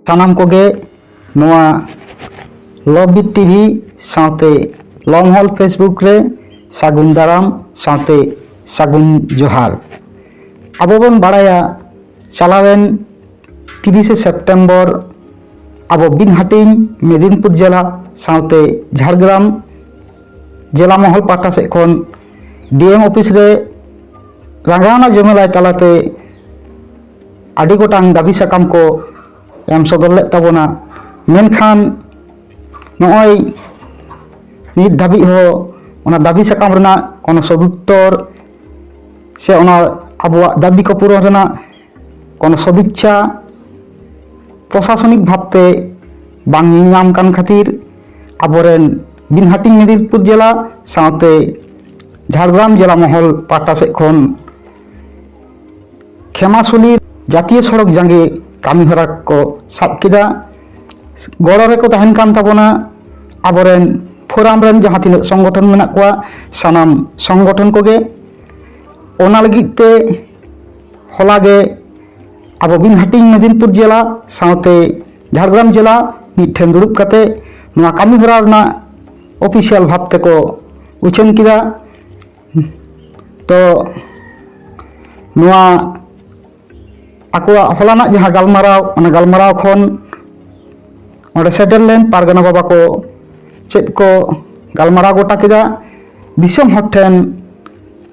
ᱥᱟᱱᱟᱢ ᱠᱚᱜᱮ ᱱᱚᱣᱟ ᱞᱚᱵᱤ ᱴᱤᱵᱷᱤ ᱥᱟᱶᱛᱮ ᱞᱚᱝᱦᱚᱞ ᱯᱷᱮᱥᱵᱩᱠ ᱨᱮ ᱥᱟᱹᱜᱩᱱ ᱫᱟᱨᱟᱢ ᱥᱟᱶᱛᱮ ᱥᱟᱹᱜᱩᱱ ᱡᱚᱦᱟᱨ ᱟᱵᱚ ᱵᱚᱱ ᱵᱟᱲᱟᱭᱟ ᱪᱟᱞᱟᱣᱮᱱ ᱛᱤᱨᱤᱥᱮ ᱥᱮᱯᱴᱮᱢᱵᱚᱨ ᱟᱵᱚ ᱵᱤᱱ ᱦᱟᱹᱴᱤᱧ ᱢᱮᱫᱤᱱᱯᱩᱨ ᱡᱮᱞᱟ ᱥᱟᱶᱛᱮ ᱡᱷᱟᱲᱜᱨᱟᱢ ᱡᱮᱞᱟ ᱢᱚᱦᱚᱞ ᱯᱟᱦᱴᱟ ᱥᱮᱫ ᱠᱷᱚᱱ ᱰᱤᱮᱢ ᱚᱯᱷᱤᱥ ᱨᱮ ᱨᱟᱸᱜᱟᱣᱱᱟ ᱡᱚᱢᱮᱞᱟᱭ ᱛᱟᱞᱟᱛᱮ ᱟᱹᱰᱤ ᱜᱚᱴᱟᱝ ᱫᱟᱹᱵᱤ ᱥᱟᱠᱟᱢ ᱠᱚ ᱮᱢ ᱥᱚᱫᱚᱨ ᱞᱮᱫ ᱛᱟᱵᱚᱱᱟ ᱢᱮᱱᱠᱷᱟᱱ ᱱᱚᱜᱼᱚᱭ ᱱᱤᱛ ᱫᱷᱟᱹᱵᱤᱡ ᱦᱚᱸ ᱚᱱᱟ ᱫᱟᱹᱵᱤ ᱥᱟᱠᱟᱢ ᱨᱮᱱᱟᱜ ᱠᱳᱱᱳ ᱥᱚᱫᱩᱛᱛᱚᱨ ᱥᱮ ᱚᱱᱟ ᱟᱵᱚᱣᱟᱜ ᱫᱟᱹᱵᱤ ᱠᱚ ᱯᱩᱨᱚᱱ ᱨᱮᱱᱟᱜ ᱠᱳᱱᱳ ᱥᱚᱫᱤᱪᱪᱷᱟ ᱯᱨᱚᱥᱟᱥᱚᱱᱤᱠ ᱵᱷᱟᱵᱛᱮ ᱵᱟᱝ ᱧᱮᱞ ᱧᱟᱢ ᱠᱟᱱ ᱠᱷᱟᱹᱛᱤᱨ ᱟᱵᱚᱨᱮᱱ ᱵᱤᱱ ᱦᱟᱹᱴᱤᱧ ᱢᱮᱫᱤᱱᱯᱩᱨ ᱡᱮᱞᱟ ᱥᱟᱶᱛᱮ ᱡᱷᱟᱲᱜᱨᱟᱢ ᱡᱮᱞᱟ ᱢᱚᱦᱚᱞ ᱯᱟᱦᱴᱟ ᱥᱮᱫ ᱠᱷᱚᱱ ᱠᱷᱮᱢᱟᱥᱩᱞᱤ ᱡᱟᱛᱤᱭᱚ ᱥᱚᱲᱚᱠ ᱡᱟᱸᱜᱮ ᱠᱟᱹᱢᱤ ᱦᱚᱨᱟ ᱠᱚ ᱥᱟᱵ ᱠᱮᱫᱟ ᱜᱚᱲᱚ ᱨᱮᱠᱚ ᱛᱟᱦᱮᱱ ᱠᱟᱱ ᱛᱟᱵᱚᱱᱟ ᱟᱵᱚᱨᱮᱱ ᱯᱷᱳᱨᱟᱢ ᱨᱮᱱ ᱡᱟᱦᱟᱸ ᱛᱤᱱᱟᱹᱜ ᱥᱚᱝᱜᱚᱴᱷᱚᱱ ᱢᱮᱱᱟᱜ ᱠᱚᱣᱟ ᱥᱟᱱᱟᱢ ᱥᱚᱝᱜᱚᱴᱷᱚᱱ ᱠᱚᱜᱮ ᱚᱱᱟ ᱞᱟᱹᱜᱤᱫ ᱛᱮ ᱦᱚᱞᱟ ᱜᱮ ᱟᱵᱚ ᱵᱤᱱ ᱦᱟᱹᱴᱤᱧ ᱢᱮᱫᱤᱱᱯᱩᱨ ᱡᱮᱞᱟ ᱥᱟᱶᱛᱮ ᱡᱷᱟᱲᱜᱨᱟᱢ ᱡᱮᱞᱟ ᱢᱤᱫ ᱴᱷᱮᱱ ᱫᱩᱲᱩᱵ ᱠᱟᱛᱮ ᱱᱚᱣᱟ ᱠᱟᱹᱢᱤ ᱦᱚᱨᱟ ᱨᱮᱱᱟᱜ ᱚᱯᱷᱤᱥᱤᱭᱟᱞ ᱵᱷᱟᱵᱽ ᱛᱮᱠᱚ ᱩᱪᱷᱟᱹᱱ ᱠᱮᱫᱟ ᱛᱚ ᱱᱚᱣᱟ ᱟᱠᱚᱣᱟᱜ ᱦᱚᱞᱟᱱᱟᱜ ᱡᱟᱦᱟᱸ ᱜᱟᱞᱢᱟᱨᱟᱣ ᱚᱱᱟ ᱜᱟᱞᱢᱟᱨᱟᱣ ᱠᱷᱚᱱ ᱚᱸᱰᱮ ᱥᱮᱴᱮᱨ ᱞᱮᱱ ᱯᱟᱨᱜᱟᱱᱟ ᱵᱟᱵᱟ ᱠᱚ ᱪᱮᱫ ᱠᱚ ᱜᱟᱞᱢᱟᱨᱟᱣ ᱜᱚᱴᱟ ᱠᱮᱫᱟ ᱫᱤᱥᱚᱢ ᱦᱚᱲ ᱴᱷᱮᱱ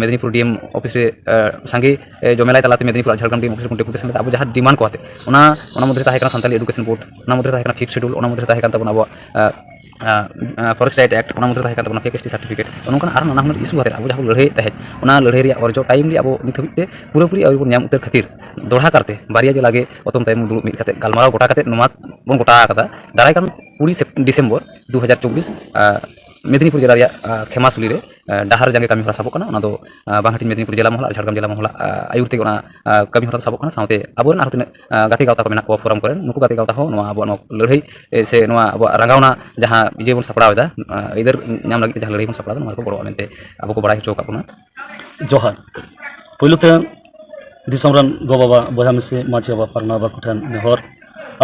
ᱢᱮᱫᱤᱱᱤᱯᱩᱨ ᱰᱤ ᱮᱢ ᱚᱯᱷᱤᱥ ᱨᱮ ᱥᱟᱸᱜᱮ ᱡᱚᱢᱮᱞᱟᱭ ᱛᱟᱞᱟᱛᱮ ᱢᱮᱫᱤᱱᱤᱯᱩᱨ ᱟᱨ ᱡᱷᱟᱲᱜᱨᱟᱢ ᱰᱤ ᱮᱢ ᱚᱯᱷᱤᱥ ᱨᱮ ᱰᱮᱯᱩᱴᱮᱥᱚᱱ ᱠᱟᱛᱮ ᱟᱵᱚ ᱡᱟᱦᱟᱸ ᱰᱤᱢᱟᱱᱰ ᱠᱚ ᱟᱛᱮ ᱚᱱᱟ ᱚᱱᱟ ᱢᱚᱫᱽᱫᱷᱮ ᱨᱮ ᱛᱟᱦᱮᱸ ᱠᱟᱱᱟ ᱥᱟᱱᱛᱟᱞᱤ ᱮᱰᱩᱠᱮᱥᱚᱱ ᱵᱳᱨᱰ ᱚᱱᱟ ᱢᱚᱫᱽᱫᱷᱮ ᱨᱮ ᱛᱟᱦᱮᱸ ᱠᱟᱱᱟ ᱯᱷᱤᱯᱛᱷ ᱥᱤᱰᱩᱞ ᱚᱱᱟ ᱢᱚᱫᱽᱫᱷᱮ ᱨᱮ ᱛᱟᱦᱮᱸ ᱠᱟᱱ ᱛᱟᱵᱚᱱᱟ ᱟᱵᱚᱣᱟᱜ ᱯᱷᱚᱨᱮᱥᱴ ᱨᱟᱭᱤᱴ ᱮᱠᱴ ᱚᱱᱟ ᱢᱚᱫᱽᱫᱷᱮ ᱨᱮ ᱛᱟᱦᱮᱸ ᱠᱟᱱ ᱛᱟᱵᱚᱱᱟ ᱯᱷᱮᱠ ᱮᱥᱴᱤ ᱥᱟᱨᱴᱤᱯᱷᱤᱠᱮᱴ ᱱᱚᱝᱠᱟᱱ ᱟᱨ ᱱᱟᱱᱟ ᱦᱩᱱᱟᱹᱨ ᱤᱥᱩ ᱟᱛᱮ ᱟᱵᱚ ᱡᱟᱦᱟᱸ ᱵᱚᱱ ᱞᱟᱹᱲᱦᱟᱹᱭᱮᱫ ᱛᱟᱦᱮᱸᱫ ᱚᱱᱟ ᱞᱟᱹᱲᱦᱟᱹᱭ ᱨᱮᱭᱟᱜ ᱚᱨᱡᱚ ᱴᱟᱭᱤᱢ ᱨᱮ ᱟᱵᱚ ᱱᱤᱛ ᱦᱟᱹᱵᱤᱡ ᱛᱮ ᱯᱩᱨᱟᱹᱯᱩᱨᱤ ᱟᱹᱣᱨᱤ ᱵᱚᱱ ᱧᱟᱢ ᱩᱛᱟᱹᱨ ᱠᱷᱟᱹᱛᱤᱨ ᱫᱚᱦᱲᱟ ᱠᱟᱨᱛᱮ ᱵᱟᱨᱭᱟ ᱡᱮᱞᱟ ᱜᱮ ᱚᱛᱚᱢ ᱛᱟᱭᱚᱢ ᱫᱩᱲᱩᱵ ᱢᱤᱫ ᱠᱟᱛᱮ ᱜᱟᱞᱢᱟᱨᱟᱣ ᱜᱚᱴᱟ ᱠᱟᱛᱮ ᱱᱚᱣᱟ ᱵᱚᱱ ᱜᱚᱴᱟ ᱟᱠᱟᱫᱟ ᱫᱟᱨᱟᱭ ᱠᱟᱱ ᱠᱩᱲᱤ ᱰᱤᱥᱮᱢᱵᱚᱨ ᱫᱩ ᱦᱟᱡᱟᱨ ᱪᱚᱵᱵᱤᱥ ᱢᱮᱫᱤᱱᱤᱯᱩᱨ ᱡᱮᱞᱟ ᱨᱮᱭᱟᱜ ᱠᱷᱮᱢᱟᱥᱩᱞᱤ ᱨᱮ ᱰᱟᱦᱟᱨ ᱡᱟᱸᱜᱮ ᱠᱟᱹᱢᱤ ᱦᱚᱨᱟ ᱥᱟᱵᱚᱜ ᱠᱟᱱᱟ ᱚᱱᱟ ᱫᱚ ᱵᱟᱝ ᱦᱟᱹᱴᱤᱧ ᱢᱮᱫᱤᱱᱤᱯᱩᱨ ᱡᱮᱞᱟ ᱢᱚᱦᱚᱞ ᱟᱨ ᱡᱷᱟᱲᱜᱨᱟᱢ ᱡᱮᱞᱟ ᱢᱚᱦᱚᱞᱟᱜ ᱟᱹᱭᱩᱨ ᱛᱮᱜᱮ ᱚᱱᱟ ᱠᱟᱹᱢᱤ ᱦᱚᱨᱟ ᱫᱚ ᱥᱟᱵᱚᱜ ᱠᱟᱱᱟ ᱥᱟᱶᱛᱮ ᱟᱵᱚᱨᱮᱱ ᱟᱨᱦᱚᱸ ᱛᱤᱱᱟᱹᱜ ᱜᱟᱛᱮ ᱜᱟᱶᱛᱟ ᱠᱚ ᱢᱮᱱᱟᱜ ᱠᱚᱣᱟ ᱯᱷᱳᱨᱟᱢ ᱠᱚᱨᱮᱱ ᱱᱩᱠᱩ ᱜᱟᱛᱮ ᱜᱟᱶᱛᱟ ᱦᱚᱸ ᱱᱚᱣᱟ ᱟᱵᱚᱣᱟᱜ ᱱᱚᱣᱟ ᱞᱟᱹᱲᱦᱟᱹᱭ ᱥᱮ ᱱᱚᱣᱟ ᱟᱵᱚᱣᱟᱜ ᱨᱟᱸᱜᱟᱣᱱᱟ ᱡᱟᱦᱟᱸ ᱤᱭᱟᱹ ᱵᱚᱱ ᱥᱟᱯᱲᱟᱣ ᱮᱫᱟ ᱟᱹᱭᱫᱟᱹᱨ ᱧᱟᱢ ᱞᱟᱹᱜᱤᱫ ᱛᱮ ᱡᱟᱦᱟᱸ ᱞᱟᱹᱲᱦᱟᱹᱭ ᱵᱚᱱ ᱥᱟᱯᱲᱟᱣ ᱮᱫᱟ ᱱᱚᱣᱟ ᱨᱮᱠᱚ ᱜᱚᱲᱚᱜᱼᱟ ᱢᱮᱱᱛᱮ ᱟᱵᱚ ᱠᱚ ᱵᱟᱲᱟᱭ ᱦᱚᱪᱚ ᱟᱠᱟᱫ ᱵᱚᱱᱟ ᱡᱚᱦᱟᱨ ᱯᱳᱭᱞᱳ ᱛᱮ ᱫᱤᱥᱚᱢ ᱨᱮᱱ ᱜᱚ ᱵᱟᱵᱟ ᱵᱚᱭᱦᱟ ᱢᱤᱥᱤ ᱢᱟᱹᱡᱷᱤ ᱵᱟᱵᱟ ᱯᱟᱨᱜᱟᱱᱟ ᱵᱟᱵᱟ ᱠᱚᱴᱷᱮᱱ ᱱᱮᱦᱚᱨ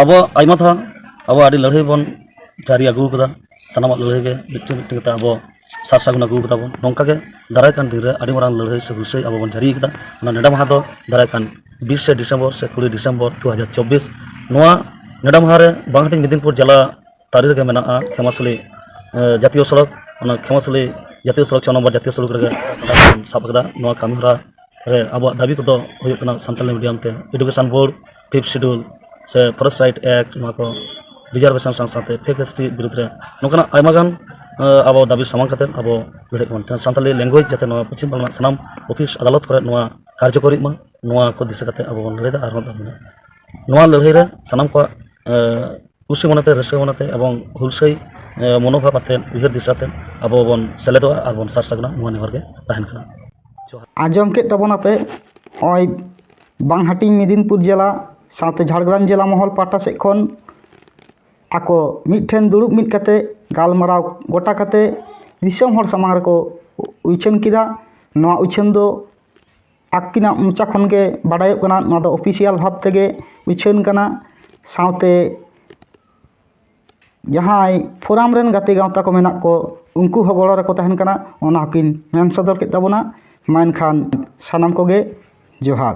ᱟᱵᱚᱣᱟᱜ ᱟᱭᱢᱟ ᱫᱷᱟᱣ ᱟᱵᱚ ᱟᱹᱰᱤ ᱞᱟᱹᱲᱦᱟᱹᱭ ᱵᱚᱱ ᱡᱟᱹᱨᱤ ᱟᱹᱜᱩ ᱟᱠᱟᱫᱟ ᱥᱟᱱᱟᱢᱟᱜ ᱞᱟᱹᱲᱦᱟᱹᱭ ᱜᱮ ᱢᱤᱫᱴᱮᱱ ᱢᱤᱫᱴᱮᱱ ᱠᱟᱛᱮᱫ ᱟᱵᱚ ᱥᱟᱨ ᱥᱟᱹᱜᱩᱱ ᱟᱹᱜᱩ ᱠᱟᱫᱟ ᱵᱚᱱ ᱱᱚᱝᱠᱟ ᱜᱮ ᱫᱟᱨᱟᱭ ᱠᱟᱱ ᱫᱤᱱ ᱨᱮ ᱟᱹᱰᱤ ᱢᱟᱨᱟᱝ ᱞᱟᱹᱲᱦᱟᱹᱭ ᱥᱮ ᱦᱩᱞᱥᱟᱹᱭ ᱟᱵᱚ ᱵᱚᱱ ᱡᱟᱹᱨᱤ ᱟᱠᱟᱫᱟ ᱚᱱᱟ ᱱᱮᱰᱟ ᱢᱟᱦᱟ ᱫᱚ ᱫᱟᱨᱟᱭ ᱠᱟᱱ ᱵᱤᱥᱮ ᱰᱤᱥᱮᱢᱵᱚᱨ ᱥᱮ ᱠᱩᱲᱤ ᱰᱤᱥᱮᱢᱵᱚᱨ ᱫᱩ ᱦᱟᱡᱟᱨ ᱪᱚᱵᱵᱤᱥ ᱱᱚᱣᱟ ᱱᱮᱰᱟ ᱢᱟᱦᱟ ᱨᱮ ᱵᱟᱝ ᱦᱟᱹᱴᱤᱧ ᱢᱮᱫᱽᱱᱤᱯᱩᱨ ᱡᱮᱞᱟ ᱛᱟᱹᱨᱤ ᱨᱮᱜᱮ ᱢᱮᱱᱟᱜᱼᱟ ᱠᱷᱮᱢᱟᱥᱟᱞᱤ ᱡᱟᱹᱛᱤᱭᱚ ᱥᱚᱲᱚᱠ ᱚᱱᱟ ᱠᱷᱮᱢᱟᱥᱟᱞᱤ ᱡᱟᱹᱛᱤᱭᱚ ᱥᱚᱲᱚᱠ ᱪᱷᱚ ᱱᱚᱢᱵᱚᱨ ᱡᱟᱹᱛᱤᱭᱚ ᱥᱚᱲᱚᱠ ᱨᱮᱜᱮ ᱱᱮᱰᱟ ᱢᱟᱦᱟ ᱵᱚᱱ ᱥᱟᱵ ᱟᱠᱟᱫᱟ ᱱᱚᱣᱟ ᱠᱟᱹᱢᱤᱦᱚᱨᱟ ᱨᱮ ᱟᱵᱚᱣᱟᱜ ᱫᱟᱹᱵᱤ ᱠᱚᱫᱚ ᱦᱩᱭᱩᱜ ᱠᱟᱱᱟ ᱥᱟᱱᱛᱟᱲᱤ ᱢᱤᱰᱤᱭᱟᱢ ᱛᱮ ᱮᱰᱩᱠᱮᱥᱚᱱ ᱵᱳᱨᱰ ᱯᱷᱤᱯᱛᱷ ᱥᱤᱰᱩᱞ ᱥᱮ ᱯᱷᱚᱨᱮᱥᱴ ᱨᱟᱭᱤᱴ ᱮᱠᱴ ᱱᱚᱣᱟ ᱠᱚ ᱨᱤᱡᱟᱨᱵᱷᱮᱥᱚᱱ ᱥᱟᱶ ᱥᱟᱶᱛᱮ ᱯᱷᱮᱠ ᱮᱥ ᱴᱤ ᱵᱤᱨᱩᱫᱽ ᱨᱮ ᱱᱚᱝᱠᱟᱱᱟᱜ ᱟᱭᱢᱟ ᱜᱟᱱ ᱟᱵᱚ ᱫᱟᱹᱵᱤ ᱥᱟᱢᱟᱝ ᱠᱟᱛᱮ ᱟᱵᱚ ᱞᱟᱹᱲᱦᱟᱹᱭ ᱵᱚᱱ ᱛᱟᱦᱮᱱᱟ ᱥᱟᱱᱛᱟᱲᱤ ᱞᱮᱝᱜᱩᱭᱮᱡᱽ ᱡᱟᱛᱮ ᱱᱚᱣᱟ ᱯᱚᱪᱷᱤᱢ ᱵᱟᱝᱞᱟ ᱨᱮᱱᱟᱜ ᱥᱟᱱᱟᱢ ᱚᱯᱷᱤᱥ ᱟᱫᱟᱞᱚᱛ ᱠᱚᱨᱮ ᱱᱚᱣᱟ ᱠᱟᱨᱡᱚᱠᱚᱨᱤᱜ ᱢᱟ ᱱᱚᱣᱟ ᱠᱚ ᱫᱤᱥᱟᱹ ᱠᱟᱛᱮ ᱟᱵᱚ ᱵᱚᱱ ᱞᱟᱹᱲᱦᱟᱹᱭᱫᱟ ᱟᱨᱦᱚᱸ ᱵᱚᱱ ᱞᱟᱹᱲᱦᱟᱹᱭᱟ ᱱᱚᱣᱟ ᱞᱟᱹᱲᱦᱟᱹᱭ ᱨᱮ ᱥᱟᱱᱟᱢ ᱠᱚᱣᱟᱜ ᱠᱩᱥᱤ ᱢᱚᱱᱮᱛᱮ ᱨᱟᱹᱥᱠᱟᱹ ᱢᱚᱱᱮᱛᱮ ᱮᱵᱚᱝ ᱦᱩᱞᱥᱟᱹᱭ ᱢᱚᱱᱳᱵᱷᱟᱵᱽ ᱟᱛᱮ ᱩᱭᱦᱟᱹᱨ ᱫᱤᱥᱟᱹᱛᱮ ᱟᱵᱚ ᱵᱚᱱ ᱥᱮᱞᱮᱫᱚᱜᱼᱟ ᱟᱨ ᱵᱚᱱ ᱥᱟᱨ ᱥᱟᱹᱜᱩᱱᱟ ᱱᱚᱣᱟ ᱱᱮᱦᱚᱨ ᱜᱮ ᱛᱟᱦᱮᱱ ᱠᱟᱱᱟ ᱟᱸᱡᱚᱢ ᱠᱮᱜ ᱛᱟᱵᱚᱱᱟᱯᱮ ᱱᱚᱜᱼᱚᱭ ᱵᱟᱝ ᱦᱟᱹᱴᱤᱧ ᱢᱮᱫᱤᱱᱤᱯᱩᱨ ᱡᱮᱞᱟ ᱥᱟᱶᱛᱮ ᱡᱷᱟᱲᱜᱨᱟᱢ ᱡᱮᱞᱟ ᱢᱚᱦᱚᱞ ᱯᱟᱦᱴᱟ ᱥᱮᱫ ᱠᱷᱚᱱ ᱟᱠᱚ ᱢᱤᱫ ᱴᱷᱮᱱ ᱫᱩᱲᱩᱵ ᱢᱤᱫ ᱠᱟᱛᱮ ᱜᱟᱞᱢᱟᱨᱟᱣ ᱜᱚᱴᱟ ᱠᱟᱛᱮ ᱫᱤᱥᱚᱢ ᱦᱚᱲ ᱥᱟᱢᱟᱝ ᱨᱮᱠᱚ ᱩᱪᱷᱟᱹᱱ ᱠᱮᱫᱟ ᱱᱚᱣᱟ ᱩᱪᱷᱟᱹᱱ ᱫᱚ ᱟᱹᱠᱤᱱᱟᱜ ᱢᱚᱪᱟ ᱠᱷᱚᱱ ᱜᱮ ᱵᱟᱰᱟᱭᱚᱜ ᱠᱟᱱᱟ ᱱᱚᱣᱟ ᱫᱚ ᱚᱯᱷᱤᱥᱤᱭᱟᱞ ᱵᱷᱟᱵᱽ ᱛᱮᱜᱮ ᱩᱪᱷᱟᱹᱱ ᱠᱟᱱᱟ ᱥᱟᱶᱛᱮ ᱡᱟᱦᱟᱸᱭ ᱯᱷᱳᱨᱟᱢ ᱨᱮᱱ ᱜᱟᱛᱮ ᱜᱟᱶᱛᱟ ᱠᱚ ᱢᱮᱱᱟᱜ ᱠᱚ ᱩᱱᱠᱩ ᱦᱚᱸ ᱜᱚᱲᱚ ᱨᱮᱠᱚ ᱛᱟᱦᱮᱱ ᱠᱟᱱᱟ ᱚᱱᱟ ᱦᱚᱸᱠᱤᱱ ᱢᱮᱱ ᱥᱚᱫᱚᱨ ᱠᱮᱫ ᱛᱟᱵᱚᱱᱟ ᱢᱟ ᱮᱱᱠᱷᱟᱱ ᱥᱟᱱᱟᱢ ᱠᱚᱜᱮ ᱡᱚᱦᱟᱨ